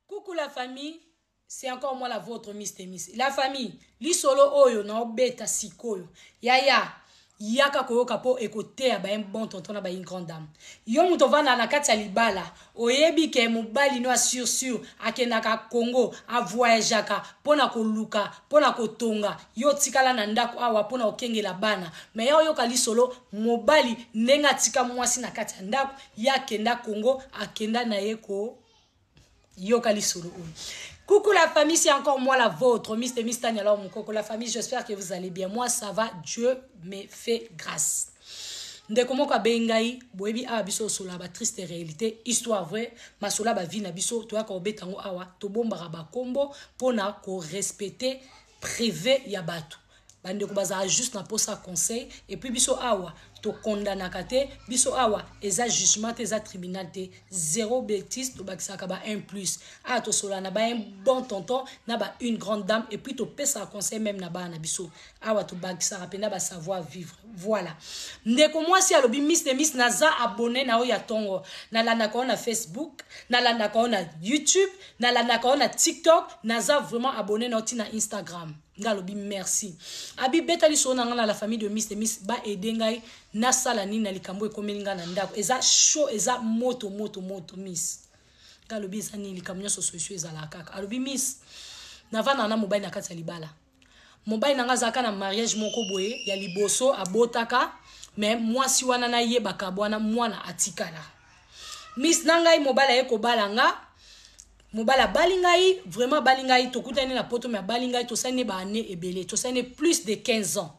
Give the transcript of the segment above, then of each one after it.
Coucou la famille c'est encore moi la votre Miss Temis la famille lisolo oyo na obeta sikoyo yaya yaka koyoka po ekoteya ba un bon tonton na ba une grande dame yo moto ovanda na kati ya libala oyebi ke mobali no ya sur sur akendaka Congo avoyajaka po na koluka po na kotonga yo otikala na ndako awa po na kokengela bana me ya oyoka lisolo mobali ndenge atika mwasi na kati ya ndako ye akenda Congo akenda na ye ko yoka lisolo oyo coucou la famille c'est encore moi la vôtre mister mister nyalao mukoko la famille j'espère que vous allez bien moi ça va dieu me fait grâce ndeko moko abeyi ngai boyebi awa biso osolola batriste réalité histoire vrai masolo bavi na biso toyaka kobeta yango awa tobombaka bakombo mpona korespecte prive ya bato Ba ndeko bazalaka juste na posa ya conseil et puis biso awa to condamnaka te biso awa eza jugement te eza tribunal te zero betise tobakisaka ba un plus awa tosolola na ba un bon tonton na ba une grande dame et puis topesaka conseil meme na bana na biso awa tobakisaka mpena ba savoir vivre voilà ndeko mwasi alobi miss de miss naza abonne na yo ya tongo nalandaka yo na facebook nalandaka yo na youtube nalandaka yo na tiktok naza vraiment abonne na yo ti na instagram nga alobi merci abi beta lisolo na nga na la famille de miss de miss ba aide ngai na sala nini na likambo ekomeli nga na ndako eza chaud eza moto moto moto miss nga alobi eza nini likambo nyonso solution ezalaka kaka alobi miss navanda na mobali na kati ya libala mobali na nga azalaka na mariage moko boye ya liboso abotaka me mwasi wana nayebaka bwana mwana atikala miss na ngai mobali aye kobala nga mobali abali ngai vraiment abali ngai tokutani na poto me abali ngai tosali ne baannée ebele tosali ne plus de 15 ans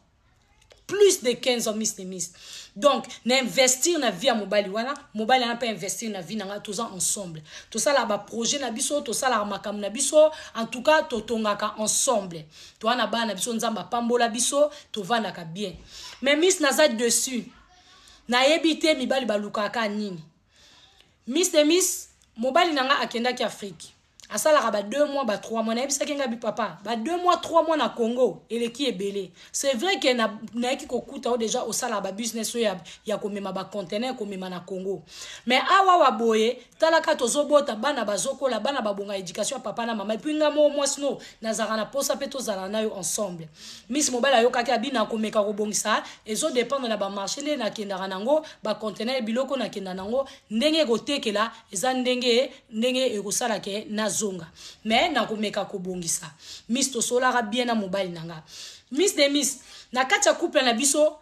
plus de 15 ans miss nemis donc na investir na vie ya mobali wana mobali wana mpe investir na vie na ngai toza ensemble tosalaka baprojet na biso tosalaka makambo na biso en tout cas totongaka ensemble toa na bana na biso nzambe apambola biso tovandaka bien mais miss naza dessus nayebi te mibali balukaka nini Miss de miss mobali na nga akendaki Afrique asalaka ba deux mois ba trois mois nayebisaki nga bi papa ba deux mois trois mois na Congo eleki ebele c'est vrai que na nayaki kokuta o deja osalaka ba business oyo ya, ya komema ba conteneur komema na Congo mais awa wa boye talaka tozobota bana bazokola bana babonga education ya papa na mama epuis nga moo mwasi no nazalaka na posa pe tozala na yo ensemble miss mobali ayokaki abi nakomeka kobongisa ezo dépendre na ba marché nde nakendaka nango ba contenaire biloko na kenda nango ndenge ekotekela eza ndenge ndenge ekosala ke nazonga mais nakomeka kobongisa miss tosolaka bien na mobali na nga miss de miss na kati ya couple na biso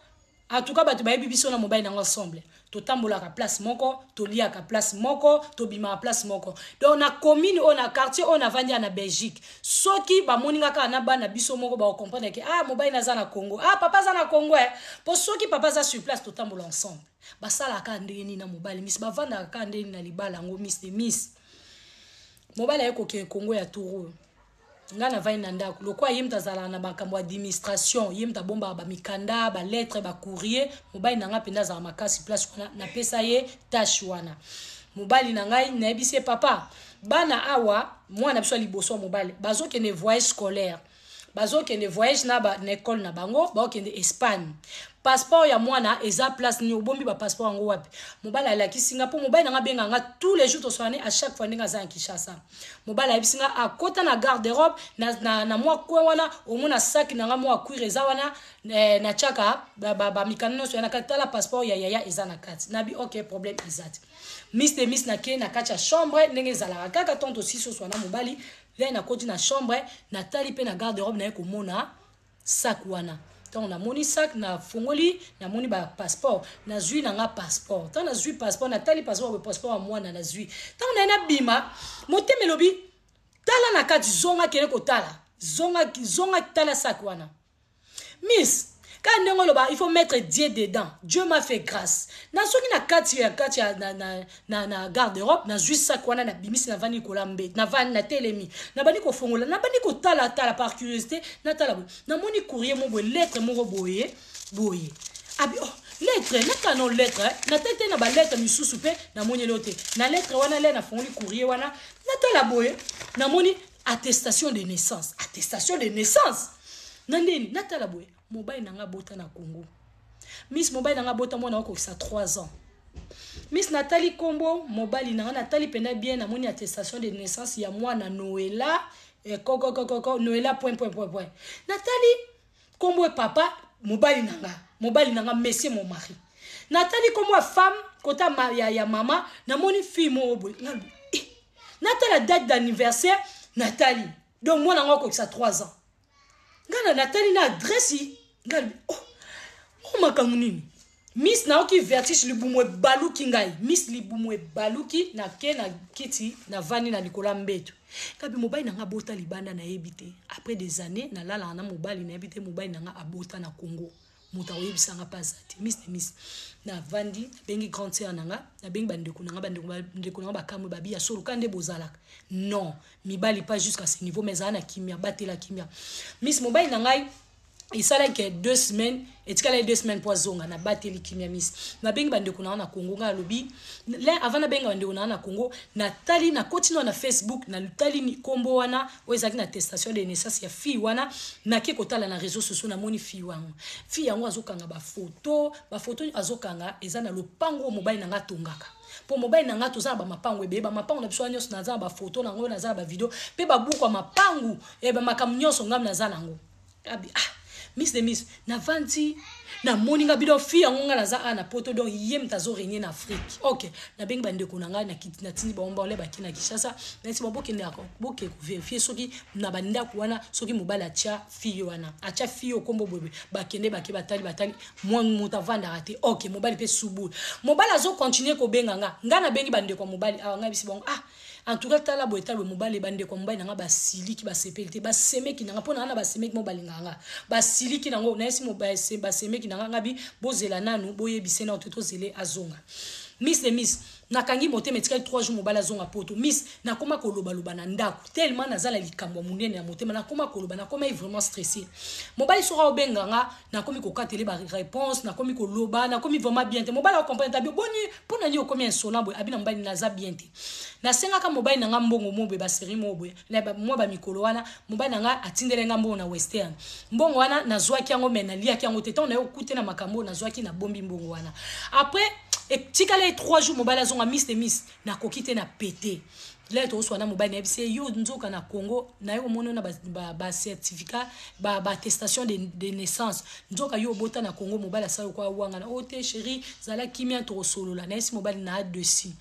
en tout cas bato bayebi biso na mobali na nga ensemble totambolaka place moko toliaka place moko tobimaka place moko donc na commune oyo na quartier oyo navandi ya na belgique Soki ba moni nga kaka na bana biso moko bako comprendre ke ah mobali na aza na Congo ah papa aza na Congo eh po soki papa aza sur place to tambola ensemble ba sala kaka ndenge nini na mobali miss ba vandaka kaka ndenge nini na libala yango miss de miss mobali aye kokende Congo ya turu nga na vandi na ndako lokola ye moto azalaka na makambo administration ye moto abombaka bamikanda balettre bacourrier mobali na ngai mpenza azalaka makasi place wana napesa ye tâche wana mobali na ngai nayebisi ye papa bana awa mwana biso ya liboso ya mobali bazokende voyage scolaire bazokende voyage na, ba, na ekole na bango baokende espagne passeport ya mwana eza place nini obombi bapasseport yango wapi mobali alakisi nga mpo mobali nanga abenga nga tous les jours tosolani à chaque fois ndenge aza na kinshasa mobali ayebisi nga akota na garde robe na, na, na mwa coin wana omona saki na nga mwa cuire eza wana eh, na tiaka bamikanda ba, ba nyonso ya na kati tala passeport ya yaya eza na kati nabi ok problème eza te Miss de Miss na ke na kati ya chambre ndenge ezalaka kaka tant aussi so swana mobali lè na koti na chambre na tali pe na garde robe na ye ko mona sac wana tant na moni sac na fongoli na moni ba passeport na zui na nga passeport tant na zui passeport na tali passeport ba passeport ya mwana na zui tant na na bima motema elobi tala na kati zonga kene ko tala zonga zonga tala sac wana miss kaka ndenge oloba il faut mettre dieu dedans dieu m'a fait grâce nazongi na kati ya kati ya na, na, na, na garde europe nazwi sak wana nabimisi navandi likola mbe navandi natelemi nabandi kofongola nabandi kotalatala par curiosité natala boye namoni courrier mo boye lettre moko boye boye abi oh lettre naka no lettre eh? natali te na balettre misusu mpe namoni eleo te na lettre wana le nafongoli courrier wana natala boye namoni Attestation de naissance. Attestation de naissance? Na nini? Natala boye, mobali na nga bota na Congo. Miss mobali na nga bota mwana okokisa 3 ans. Miss natali kombo mobali na nga natali penda bien na moni attestation de naissance ya mwana Noela eh, koko koko koko Noela point point point point. Natali Kombo ya papa mobali na nga, mobali na nga monsieur mon mari. Natali kombo ya femme kota ma, ya, ya mama namoni fille moko boye nga eh. natala date d'anniversaire natali donc mwana yango akokisa 3 ans nga na natali na adresse nga oh, oh makambo nini Miss nayoki vertige libumu ebaluki ngai miss libumu ebaluki na ke na kiti na vandi na likolo ya mbetu ngabi mobali na nga abota libanda nayebi te après des années nalalaka na mobali nayebi te mobali na nga abota na congo moto akoyebisa nga mpe aza te miss de miss na vandi nabengi grande sœur na nga nabengi bandeko na nga bandeko na nga bakamwe babi ya solo ka nde bozalaka non mibali pas jusqu'à ce niveau mais ezala na kimia batela kimia miss mobali na ngai esalaki ke deux semaines etikala ye deux semaines mpo azonga nabateli kimia misi nabengi bandeko na nga na congo ngai alobi lin avant nabenga bandeko na nga na congo natali nakoti nao na facebook natali nkombo wana oyo ezalaki na testation de naissance ya fille wana nake kotala na réseau sociaux namoni fille yango fille yango azokanga bafoto bafoto azokanga eza na lopango mobali na nga atongaka Po mobali na nga toza na ba mapangu ebele ba mapangu na biso wana nionso naza na ba photo na ngo naza na ba video pe ba buku ya mapangu ya ba makambo nionso ngam naza na ngo abi ah miss de miss na vandi na moni nga bidon fille yango nga naza a na poto donc ye mta azo renier na afrique ok na bengi ba ndeko na nga na kiti na tindi ba omba ole ba ki na kishasa na esi ba bokende ako boke ko verifier soki na ba ndaku wana soki mobali atia fille wana atia fille oyo kombo boyeboye bakende bake batali batali moto avandaka te ok mobali mpe subul mobali azocontinue kobenga nga nga nabengi bandeko ya mobali awa nga bisi bango ah en tout cas tala boye tala boye mobali bandeko ya mobali na nga basiliki basepeli te basemeki na nga mpo na nga na basemeki mo balingaka nga basiliki na ngo nayesi basemeki na nga nga bi bozela nanu boyebise nao te tozele azonga miss de miss Nakangi motema etikali trois jours mobali azonga poto miss nakoma koloba loba na ndaku tellement naza na likambo ya munene na motema nakoma koloba nakomaki vraiment stresse mobali soki aobenga nga nakomi kokatele ba reponse nakomi koloba nakomi vraiment bien te mobali akokomprendre tabi boni pona nini okomi insolent boye abi na mobali naza bien te nasengaka mobali na nga mbongo mo boye ba serie mo boye Na ba mwa ba mikolo wana, mobali na ngai atindelaki ngai mbongo na Western. Mbongo wana, nazuaki yango mais naliaki yango te. Tango naye kokute na makambo oyo nazuaki, nabombi mbongo wana. Après, etikalaki trois jours mobali azonga, Mister Miss, nakoki te, na pete. Lelo tokosolola na mobali, nayebisi ye, yo nzoka na Congo, naye komona yo na ba, ba, ba certificat, ba, ba attestation de, de naissance. Nzoka yo obota na Congo, mobali asala yo kwa wangana. Oh te cherie, zala kimia, tokosolola. Nayebisi mobali na dessus.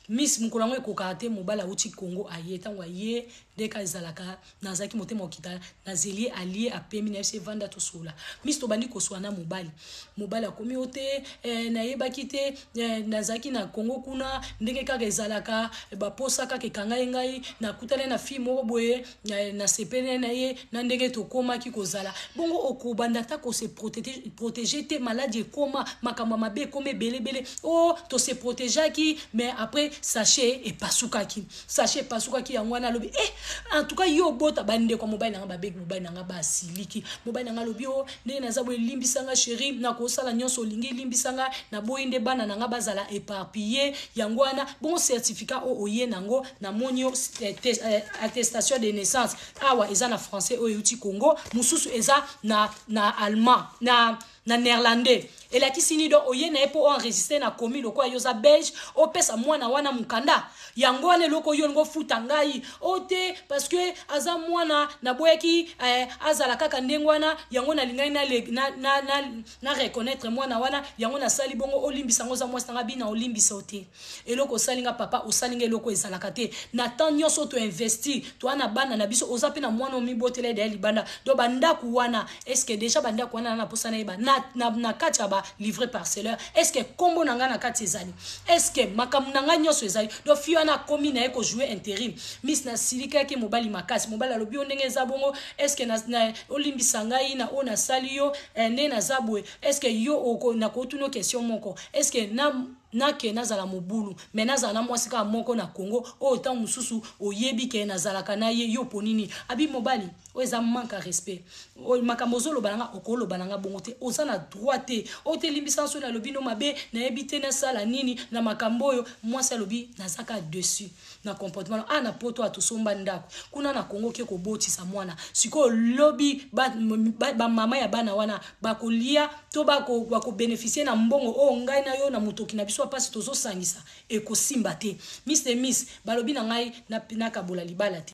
Miss mukolo yango ekokaka te mobali awuti Congo aye tango aye nde ka ezalaka nazalaki motema okita nazeliye aliye apemi naye se vanda tosolola miss tobandi kosuana na mobali mobali akomi yo te eh nayebaki te eh nazalaki na Congo kuna ndenge kaka ezalaka ba posa kaka ekanga ye ngai nakutani na fille moko boye nasepeli na ye na ndenge tokomaki kozala bongo okobanda ata kose protege te maladi ekoma makambo ya mabe ekoma ebelebele o oh, tose protegeaki mais après sache epasukaki sache epasukaki yango wana alobi e eh, en tout cas yo obota bandeko ya mobali na nga babeki mobali na nga basiliki mobali na nga alobi o oh, Ndenge naza boye limbisa nga cherie nako sala nionso olingi limbisa nga na boyi nde bana na nga bazala eparpille yango wana bongo certificat o oye nango na moni yo eh, eh, attestation de naissance awa eza na français oyo euti Congo mususu eza na na allemand na na néerlandais Elakisi nini donc oye naye po o enregistre na komi lokola yo oza belge opesa mwana wana mukanda yango wana eloko yo olingi ofuta ngai o oh, te parce que aza mwana naboyaki eh, azala kaka ndenge wana yango nalingaki na, na, na, na, na reconnaître mwana wana yango nasali bongo olimbisa yango oza mwasi nanga bina olimbisa o te Eloko osali nga papa osali nga eloko ezalaka te na temps nionso oyo to investir toa na bana na biso oza pe na muana omi botela ye d'ailleurs libanda donc ba ndaku wana est ce que dejà ba ndaku wana naza na posa nayeba na na na kati ya ba livre parceleur est ce que kombo na nga na kati ezali est ce que makambo na nga nionso ezali donc fille wana akomi naye ko jouer interim miss na silikaki mobali makasi mobali alobi yo ndenge eza bongo est ce que na, na olimbisa ngai na oyo nasali yo eh, nde naza boye est ce que yo oko na kotuna question moko est ce que na Na ke nazala mobulu mais nazala na mwasi kaka moko na Congo oyo tango mosusu oyebi ke nazalaka na ye, yo oponi nini? Abi mobali oyo eza manque à respect oyo makambo ozo loba na nga oko loba na nga bongo te oza na droit te oyo te limbisa nga soki na lobi no mabe na yebi te na sala nini na makambo oyo mwasi alobi naza kaka deçu. na comportement na ah na poto atu somba ndaku kuna na Congo ke kobotisa mwana sikoyo lobi ba, ba, ba mama ya bana wana bakolia to bako bako beneficier na mbongo oyo ngai na yo na mutoki na biso apasi tozo sangisa ekosimba te Miss de Miss balobi na ngai na nakabola libala te